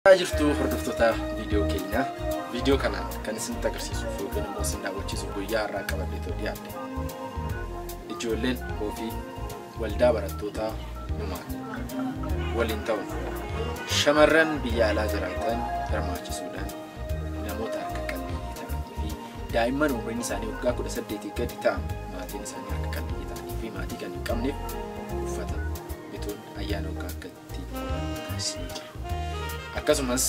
Haa jirtu hordoftoota viidiyoo keenyaa. Viidiyoo kana kan isinitti agarsiisuuf yookiin immoo isin daawwachiisuuf guyyaa har'aa qabadhee too dhiyaadhe. Ijoolleen ofii waldaa barattootaa numaan waliin ta'uun shamarran biyya alaa jiraatan hirmaachisuudhaan namoota harka qalleeyyii ta'anii fi daa'imman umriin isaanii waggaa kudha saddeetii gadi ta'an maatiin isaanii harka qalleeyyii ta'anii fi maatii kan hin qabneef uffata bituun ayyaana waggaa akka Akkasumas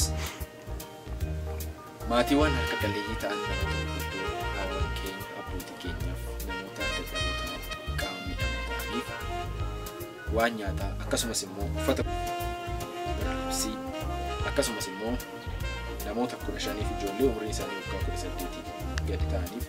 maatiiwwan harka qalleeyyii ta'an namoota gurguddoo haawwan keenya, abbootii keenyaaf, namoota dadhaboo ta'an, qaama miidhamoo ta'aniif waan nyaataa akkasumas immoo uffata barreessii akkasumas immoo namoota kudha shaniif ijoollee umriin isaanii waggaa kudha saddeetii gadi ta'aniif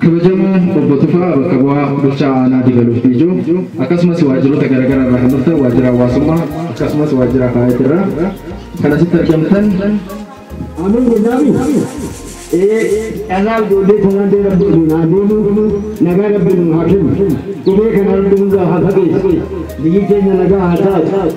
Kabajamoo Obbo Tufaa bakka bu'aa Bulchaa Aanaa Dibaluuf Biijuu akkasumas waajjiroota garagaraa irraa kan dhuftan waajjira hawaasummaa akkasumas waajjira Haayat irraa kan asitti argamtan Amin Guddaami. Dhalaa ijoollee kanaa dee rabbi waliin haa deemu. Nagaa rabbi nu haa kennu. Dhibee kana rabbi nurraa haa fageessu. Biyyi keenya nagaa haa taatu.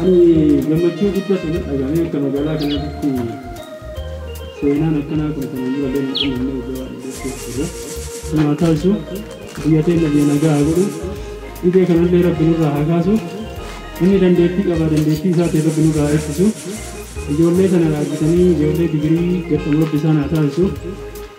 Ani gammachuu guddatu na dhagahame akka magaalaa kanaatitti seenaan akkanaa kun kanaan dura illee hin uumamne waggaa baay'ee dura keessa turre. Kun haa taasisu, biyya teenna biyya nagaa haa godhu, dhibee kana illee Rabbi nurraa haa kaasu, inni dandeettii qaba dandeettii isaatiin Rabbi nurraa haa ittisu, ijoollee tana argitanii ijoollee digirii gad dhumu Rabbi isaan haa taasisu.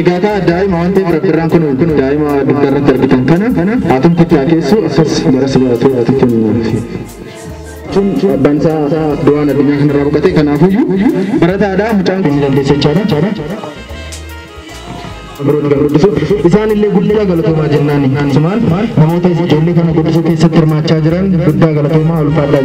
Egaa kaa daa'ima waan ta'eef rabbirraan kun daa'ima dugda irratti argitan kana haatumti itti haakeessu akkas gara si baratu ati kennuuf. Kun abbaan isaa du'aan addunyaa kanarraa boqate kanaafuyyuu barataadha mucaan kun ni dandeessa jechaadha. Abrooti kan guddisu isaan illee guddaa galatoomaa jennaan sumaan namoota ijoollee kana guddisuu keessatti hirmaachaa jiran guddaa galatoomaa ulfaadhaa.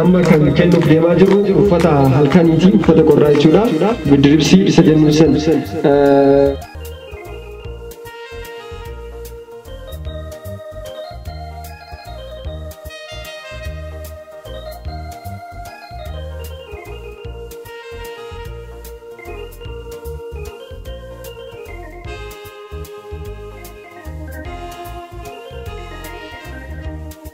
Amma kan kennuuf deemaa jirru uffata halkaniiti. Uffata qorraa jechuudha. Biddiribsii isa jennu san.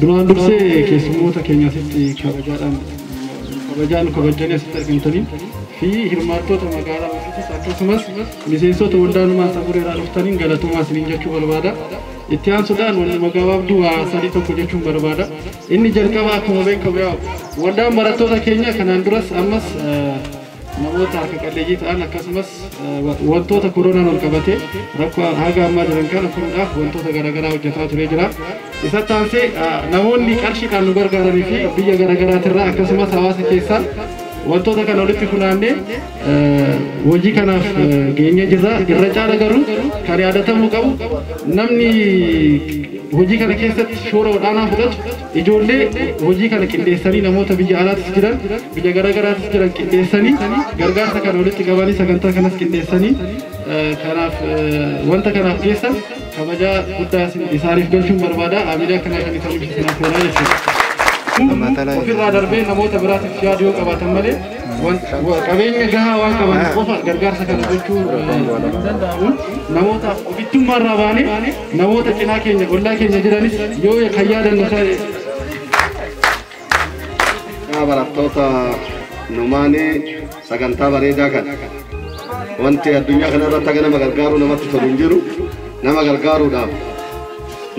Duraan dursee keessummoota keenya asitti kabajaadhaan kabajaan kabajjanii asitti argamtanii fi hirmaattoota magaalaa Masiitis akkasumas miseensota waldaa ilmaan samurii irraa dhuftaniin galatoomaa isiniin jechuu barbaada. Itti aansuudhaan wanni magabaabduu waa sadii tokko jechuun barbaada. Inni jalqabaa akkuma beekamu yaa waldaan barattoota keenya kanaan duras ammas eh, namoota harka qalleeyyii ta'an akkasumas wantoota koronaan wal qabatee rakkoo haga ammaa jiran kana furuudhaaf wantoota garaagaraa hojjetaa turee jira. Isatti aansee namoonni qarshiidhaan nu gargaaranii fi biyya garaagaraatirraa akkasumas hawaasa keessaa wantoota kana walitti funaannee hojii kanaaf geenyee jirra. Irra caala garuu kan yaadatamuu qabu namni hojii kana keessatti shoora olaanaa fudhatu Ijoollee hojii kana qindeessanii namoota biyya alaatis jiran, biyya garagaraatis jiran qindeessanii gargaarsa kana walitti qabanii sagantaa kanas qindeessanii kanaaf wanta kanaaf geessan kabajaa guddaa isaaniif galchuun barbaada. Aamilee akkanaa kan isaan ibsu kanaaf oolaa jechuudha. Ofirraa darbee namoota biraatiif yaadu yoo qabaatan malee qabeenya gahaa waan qaban qofa gargaarsa kana gochuu hin danda'amu. Namootaaf ofittummaarraa baanee Namoota cinaa keenya ollaa keenya jiranis yoo kan yaadannu ta'e. Yaa barattoota numaanii sagantaa bareedaa kana wanti addunyaa kana irratti haga nama gargaaruu namatti tolu hin jiru nama gargaaruudhaaf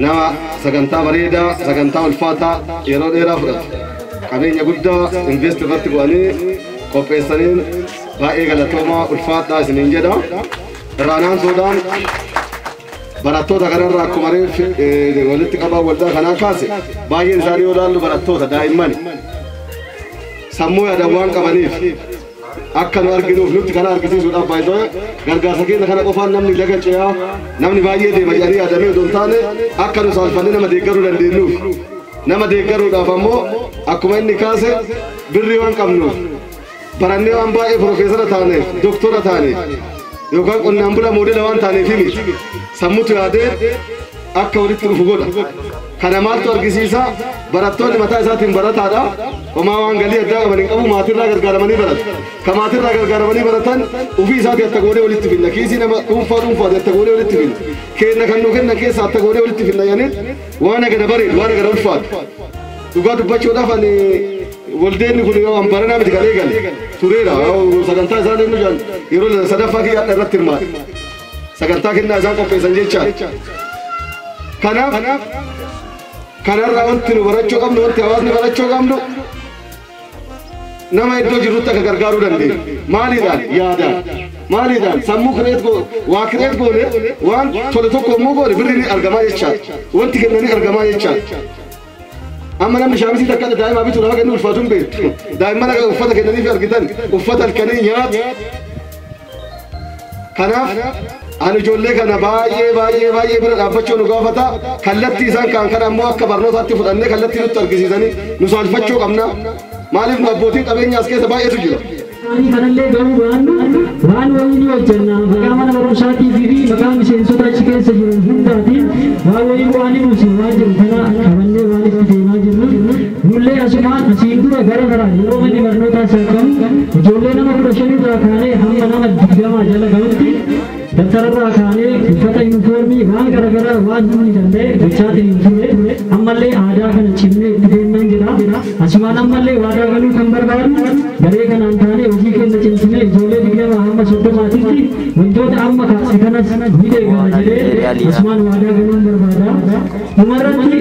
nama sagantaa bareedaa sagantaa ulfaataa yeroo dheeraa fudhatu qabeenya guddaa invest irratti godhanii qopheessaniin baay'ee galatoomaa ulfaadhaa isiniin jedha irraanaan soodaan Barattoota kanarraa akkuma reeffi eh, walitti qabaan waldaa kanaa kaase baay'een isaanii yoo ilaallu barattoota daa'imman sammuu yaadan waan qabaniif akka nu arginuuf nutti kana argisiisuudhaaf baay'ee gargaarsa keenya kana qofaan namni laga ce'aa namni baay'ee deema jedhanii yaadamee otoo hin taane akka nu saalfanne nama deeggaruu dandeenyuuf nama deeggaruudhaaf ammoo akkuma inni kaase birrii waan qabnuuf barannee waan baay'ee pirofeesara taaneef doktora taaneef yookaan qonnaan bulaa moodela waan taaneef miti sammutu yaadee akka walitti dhufu godha kana maaltu argisiisa barattoonni mataa isaatiin barataadha homaa waan galii addaa qaban hin qabu maatirraa gargaaramanii baratu ka maatirraa gargaaramanii baratan ofii isaatii atta goonee walitti finna kiisii nama dhuunfaa dhuunfaati atta goonee walitti finna keenna kan nu kenna keessa atta goonee walitti finna yaaniit waan agana bareedu waan agana ulfaatu Dhugaa dubbachuudhaaf ani waldeenni kun yoo an baranaa miti kan eegale tureera. Sagantaa isaan inni jedhan yeroo lama sadaffaa kiyya adda irratti hirmaate. Sagantaa kennaa isaan qopheessan jecha. Kanaaf kanarraa wanti nu barachuu qabnu wanti hawaasni barachuu qabnu nama iddoo jirutti akka gargaaruu dandeenya. Maaliidhaan yaadaan maaliidhaan sammuu kireet goone waa kireet goone waan tole tokko immoo goone birri ni argamaa jechaadha. Wanti kennanii argamaa jechaadha. Amma namni shaamisii takka adda daa'imaa bituu nama kennu ulfaatu hin beektu. Daa'imman akka uffata kennaniif argitan uffata halkanii nyaatu. Kanaaf ani ijoollee kana baay'ee baay'ee baay'ee bira dhaabbachuu nu gaafata. Kallattii isaan kaan kana ammoo akka barnootaatti fudhannee kallattii nutti argisiisanii nu saalfachuu qabna. Maaliif nu abbootiin qabeenyaa as keessa baay'eetu jira. isaanii kanallee gahuu baannu waan wayii ni hojjenna maqaa mana barumsaatiif fi maqaa miseensota achi keessa jiru hundaatiin waan wayii bu'aa ni buusi waan jiru kana qabannee waan itti deemaa jirru nullee asumaan asiin dura gara garaa yeroo manni barnootaa saaqamu ijoollee nama kudha shan irraa kaanee hamma nama digdamaa jala gahutti Dabtara irraa kaanee uffata yuunifoormii waan garaagaraa waan humni danda'e gochaatiin hin turre ammallee aadaa kana cimnee itti deemnaan jira. Asumaan ammallee waadaa galuu kan barbaadu garee kanaan taanee hojii keenya cimsinee ijoollee digdamaa hamma soddomaatitti wantoota amma kaase kanas ni deeggarra jedhee asumaan waadaa galuun barbaada. Dhumarratti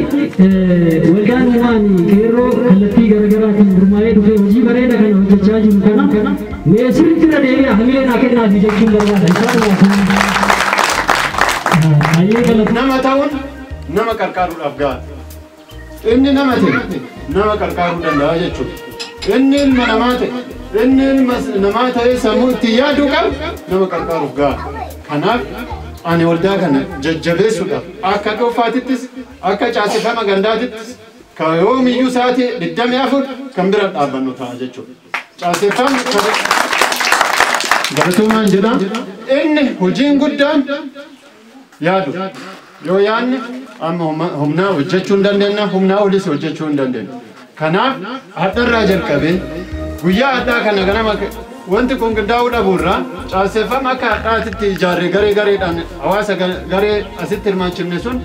waldaan uumaan qeerroo kallattii garaagaraatiin gurmaa'ee dhufee hojii bareeda kana hojjechaa jiru kana Mee sirriitti irra deebi'aa hamilee naa kennaa fi jechuun barbaada. Baay'ee galata. Nama ta'uun nama qarqaaruudhaaf ga'a. Inni nama ta'e nama qarqaaruu danda'a jechuudha. Inni ilma namaa ta'e inni ilma namaa ta'ee sammuu itti yaadu qabu nama qarqaaruuf ga'a. Kanaaf ani waldaa kana jajjabeessuudhaaf akka dhuunfaatittis akka caasifama gandaatittis kan yoomiyyuu sa'aatii 24 kan bira dhaabbannu ta'a jechuudha. Caaseffamni galatoomaan jedha. Inni hojiin guddaan yaadu. Yoo yaadne amma huma- humnaa hojjechuu hin dandeenya, humnaa olis hojjechuu hin dandeenya. Kanaaf hadharraa jalqabee guyyaa hadhaa kana ganama wanti kun qindaa'uu dhabuurraa caaseffama akka hadhaatitti ijaarre garee gareedhaan hawaasa ga- garee asitti hirmaachifne sun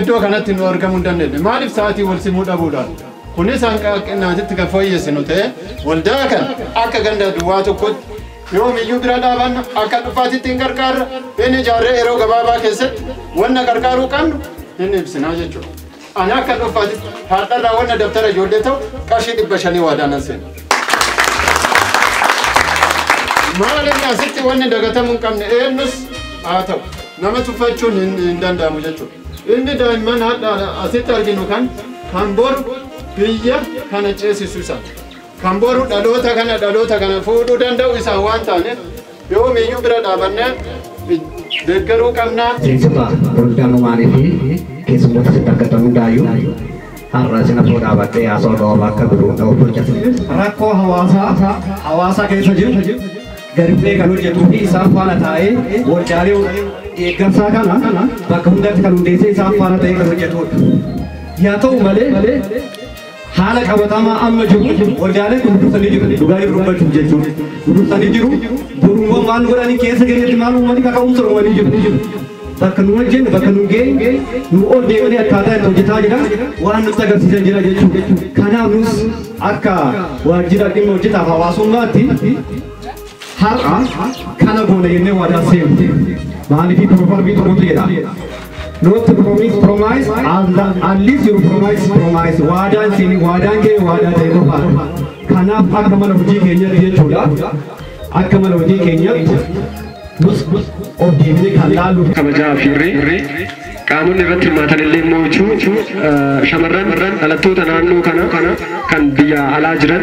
iddoo kanatti nu argamuu hin dandeenye. Maaliif sa'aatii wal simuu dhabuudhaan? Kunis hanga hanqinnaatitti kan fooyyessinu ta'ee waldaa kana akka ganda duwwaa tokkotti yoomiyyuu bira dhaabanna akka dhufaatitti hin qarqaarra hin ijaarree yeroo gabaabaa keessatti wanna qarqaaruu qabnu hin ibsinaa jechuudha. Ani akka dhufaatitti har'arraa wanna dabtara ijoollee ta'u qarshii dhibba shanii waadaa nan seena. Maal inni asitti wanni dagatamuu hin qabne eenyus haa ta'u nama tuffachuun hin danda'amu jechuudha. Ilmi daa'imman hadha asitti arginu kan kan boru biyya kana ceesisu isa. Kan boru dhaloota kana dhaloota kana fuudhuu danda'u isa waan taaneef yoomiyyuu bira dhaabannee deeggaruu qabna. Miseensota waldaa Numaanii fi keessummoota asitti argatan hundaayyuu har'a isin afoo dhaabattee haasawaa gabaabaa akka godhu na obbo Jasmin. Rakkoo hawaasaa hawaasa keessa jiru gadi bu'ee kan hojjetuu fi isaan faana taa'ee waldaalee deeggarsaa kana bakka hundatti kan hundeessee isaan faana ta'ee kan hojjetudha. Yaa ta'u malee haala qabatamaa amma jiru waldaaleen kun dursanii jiru dhugaa jiru dubbachuuf jechuudha. Dursanii jiru boruuwwan waan godhanii keessa keessatti maal uumanii kaka'umsa uumanii jiru. bakka nu wajjin bakka nu geenye nu ol deemanii akkaataa itti hojjetaa jiran waan nutti agarsiisan jira jechuudha. Kanaaf nus akka waajjira dhimma hojjetaaf hawaasummaatti har'a kana goona jennee waadaa seenu. Maaliif piroofarbii tokkotu jedha. Not to promise promise as the, at least you promise promise waadaan siin waadaan kee waadaa ta'e qofaadha. Kanaaf akka mana hojii keenyatti jechuudha. Akka mana hojii keenyatti Nus of deebinee kan laallu kabajaa fi irree qaamonni irratti hirmaatan illee immoo jechuu shamarran dhalattoota naannoo kana kan biyya alaa jiran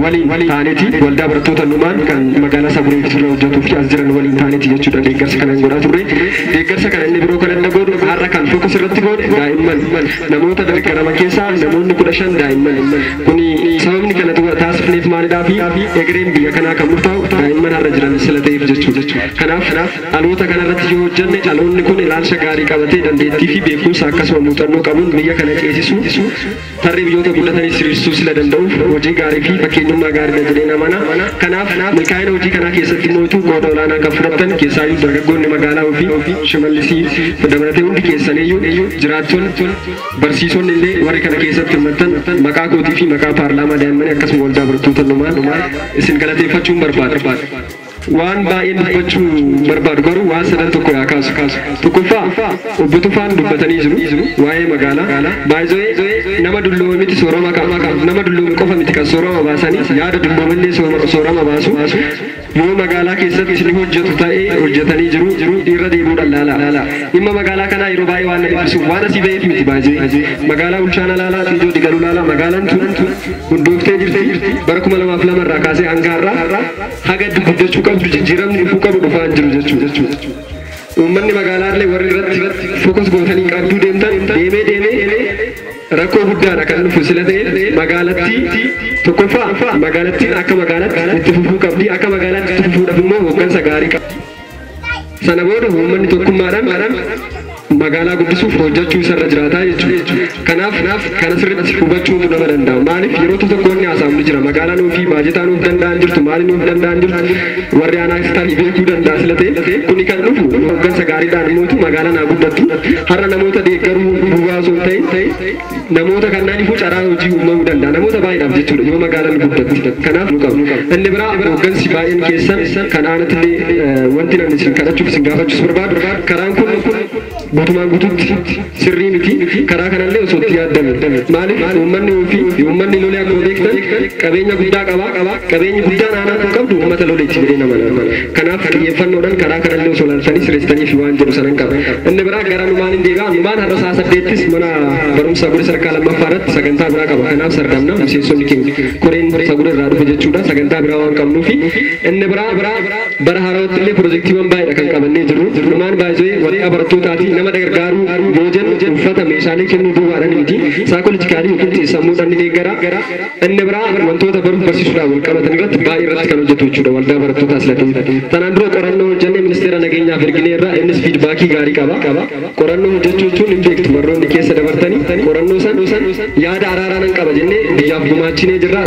waliin taaneti waldaa barattoota numaan kan magaalaa Saburee fi sirna hojjetuu fi as jiran waliin taaneti jechuudha deeggarsa kana godhaa turre. Deeggarsa kana inni biroo kan adda godhu har'a kan fokus irratti goone daa'imman namoota deeggaraman keessaa namoonni kudha shan daa'imman Kuni sababni kana taasifneef maalidhaa fi egereen biyya kanaa kan murtaa'u daa'imman har'a jiran sila ta'eef jechuudha. Kanaaf dhaloota kanarratti yoo hojjanne dhaloonni kun ilaalcha gaarii qabatee dandeettii fi beekumsa akkasuma muuxannoo qabuun biyya kana ceesisuu, tarree biyyoota guddataniis hiriirsuu sila danda'uuf hojii gaarii fi fakkeenyummaa gaariidha jedheen amana. Kanaaf milkaa'ina hojii kanaa keessatti mooytuu qooda olaanaa kan fudhattan keessaayyuu dargaggoonni magaalaa ofii, Shimallisii dabalatee hundi keessaniyyuu jiraattonni, Barsiisonni illee warri kana keessatti hirmattan maqaa kootii fi maqaa paarlaamaa daa'immanii akkasuma waldaa barattoota numaan isin galateeffachuun barbaada. Waan baay'een dubbachuu barbaadu garuu waan sadan tokko yaa kaasu. Tokkoffaa obbo Tufaan dubbatanii jiru waa'ee magaalaa. Baay'ee nama dulloome miti soorama qaba. Nama dulloome qofa miti kan soorama baasanii yaada dulloomellee soorama baasu. Yoo magaalaa keessatti ni hojjetu ta'e, hojjetanii jiru, irra deebi'uudhaan laalaa. Dhimma magaalaa kanaa yeroo baay'ee waan na dhiphisuuf, waan asii ba'eef miti by the way. Magaalaa Bulchaana laalaa, Xiijoo Digaluu laalaa, magaalaan tun hundooftee jirti. Bara 2002 irraa kaasee hanga har'aa haga itti guddachuu qabdu, jijjiiramni dhufuu qabu dhufaa hin jiru jechuudha. Uummanni magaalaa illee warri irratti focus gootanii qabduu deemtan deemee deemee Rakkoo guddaadha kan dhufu sila ta'e magaalattii tokkoffaa magaalattiin akka magaalatti itti fufuu qabdi akka magaalatti itti fufuudhaaf immoo hooggansa gaarii qabdi. Sana booda uummanni tokkummaadhaan magaalaa guddisuuf hojjechuu isarra jiraataa jechuudha. Kanaaf kana sirriitti hubachuutu nama danda'a. Maaliif yeroo tokko tokko wanni haasa'amu ni jira. Magaalaan ofii baajetaa nuuf danda'an jirtu maali nuuf danda'an jirtu warri aanaa Istaanji beekuu danda'a sila ta'e kuni kan dhufu hooggansa gaariidhaan mootu magaalaan haa guddattu har'a namoota deeggaruu duwwaa osoo hin ta'in namoota kannaaniifuu carraa hojii uumamuu danda'a namoota baay'eedhaaf jechuudha yoo magaalaan guddatti kanaaf nu qabu inni biraa hooggansi baay'een keessan kan aanattillee wanti namni isin kadhachuuf isin gaafachuus barbaadu karaan kun Gutumaan gututti sirrii miti karaa kanallee osoo itti yaaddame maaliif uummanni uufi uummanni lolee akkuma beektan qabeenya guddaa qaba qabeenyi guddaan aanaan kun qabdu uummata loleeti jedheen amana kanaaf xiyyeeffannoodhan karaa kanallee osoo laaltanii sirreessitaniifi waan jedhu sanan qaba inni biraa gara numaan hin deebi'a numaan har'a sa'a saddeettis mana barumsa guri sarkaa lammaffaa irratti sagantaa biraa qaba kanaaf sardamna miseensonni keenya koreen sagura irraa dhufe jechuudha sagantaa biraa waan qabnuufi inni biraa Bara haarawaatti illee pirojektiiwwan baay'eedha kan qabannee jirru. Dhumaan by the way waraqaa barattootaatii nama dagargaaruu yoo jennu uffata, meeshaalee kennuu duwwaadhaan miti. Psychologically yookiin xiinsammuudhaan ni deeggara. Inni biraa wantoota baruuf barsiisuudhaan wal qabatan irratti baay'ee irratti kan hojjetu jechuudha waldaa barattootaa sila ta'e. Tanaan dura qorannoo hojjennee ministeera nageenyaaf erginee irraa innis fiidbaakii gaarii qaba. Qorannoo hojjechuu jechuun hin beektu warroonni keessa dabartanii qorannoo san yaada araaraa nan qaba jennee biyyaaf gumaachinee jirra.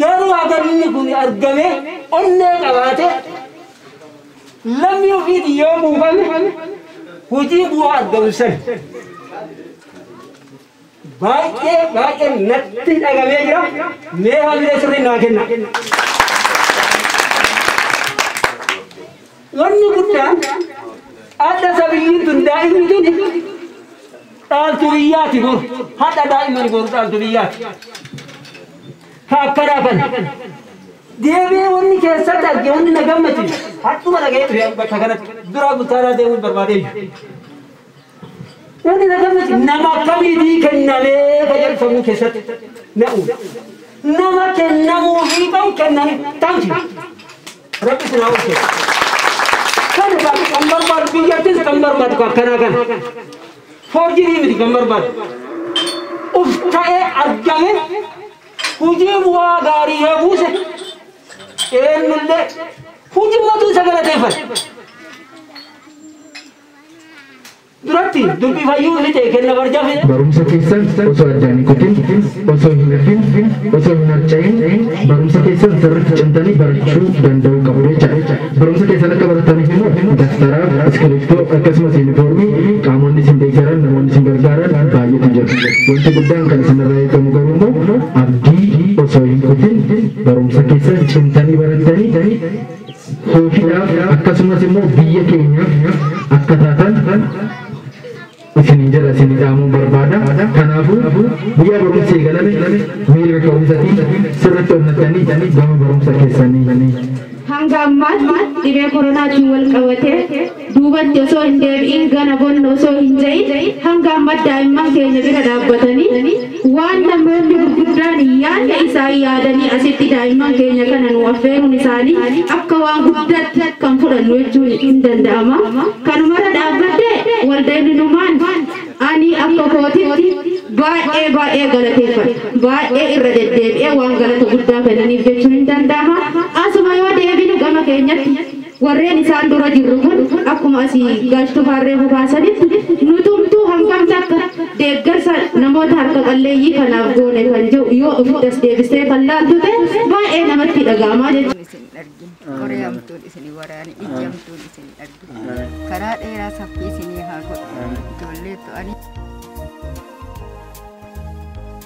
Garuu haga inni kun argamee onnee qabaatee lammii ofiitiin yoo quufame hojii bu'aa argamu san baay'ee baay'ee natti dhagamee jira mee hamilee sirrii naa kenna. Wanni guddaan adha sabiyyiin tun daa'imni tuni dhaaltu biyyaati bor hadha daa'imani boru dhaaltu biyyaati ka akkanaa kana deebi'ee wanni keessatti arge wanni na gammachiisu hadhuma dhaga'ee dhufe bakka kanatti duraa bultaaraa deemuun barbaadee jiru. Wanni na gammachiisu nama akkamiitii kennamee ka jedhu sammuu keessatti na uume. Nama kennamuu fi qabu kenname tamsi. Rabbi isin haa oolchu. Kan kan kan barbaadu biyyattis kan barbaadu kan kanaa kan. Forjirii miti kan barbaadu. Uf ta'ee argame hojii bu'aa gaarii yoo buuse eenyullee hojii mootuu isa galateeffate. duratti dubbii fayyuu ifi ta'e kenna barjaa fide. Barumsa keessan osoo addaan hin kutin, osoo hin hafin, osoo hin harca'in barumsa keessan sirriitti cimtanii barachuu danda'uu qabdu jechaadha. Barumsa keessan akka barataniif immoo dastaraa, iskiriiptoo akkasumas yuunifoormii qaamonni isin deeggaran namoonni isin gargaaran baay'eetu jira. Wanti guddaan kan isinirraa eegamu garuu immoo abdii osoo hin kutin barumsa keessan cimtanii barattanii Itoophiyaaf akkasumas immoo biyya keenyaaf akka taatan isinin jedha isin dhaamuun barbaada. Kanaafuu guyyaa barumsi eegalame miira ka'umsatiin sirriitti onnattanii gama barumsa keessanii. Hanga ammaatti dhibee koronaatiin wal qabatee duubatti osoo hin deebi'in gana bonna osoo hin ja'in hanga amma daa'imman keenya bira dhaabbatanii waan namoonni gurguddaan hin yaadne isaan yaadanii asitti daa'imman keenya kana nu affeeruun isaanii akka waan guddaatti kan fudhannu jechuun hin danda'ama. Kanumarra dhaabbattee walda ibnumaan ani akka kootitti baay'ee baay'ee galateeffadha. Baay'ee irra deddeebi'ee waan galata guddaa kennaniif jechuun hin danda'ama. Asuma yoo deebinu gama keenyatti Warreen isaan dura jirru kun akkuma asii Gaash Tufaan reefu kaasanitti nutumtuu hangam takka deeggarsa namoota harka qalleeyyii kanaaf goone kan jedhu yoo ofitti as deebistee kan laaltu ta'e baay'ee namatti dhaga'ama jechuudha. isin hin argin qoree hamtuun isin hin waraane ijji hamtuun isin hin argin karaa dheeraa saffii isinii haa godhu ijoollee to'anii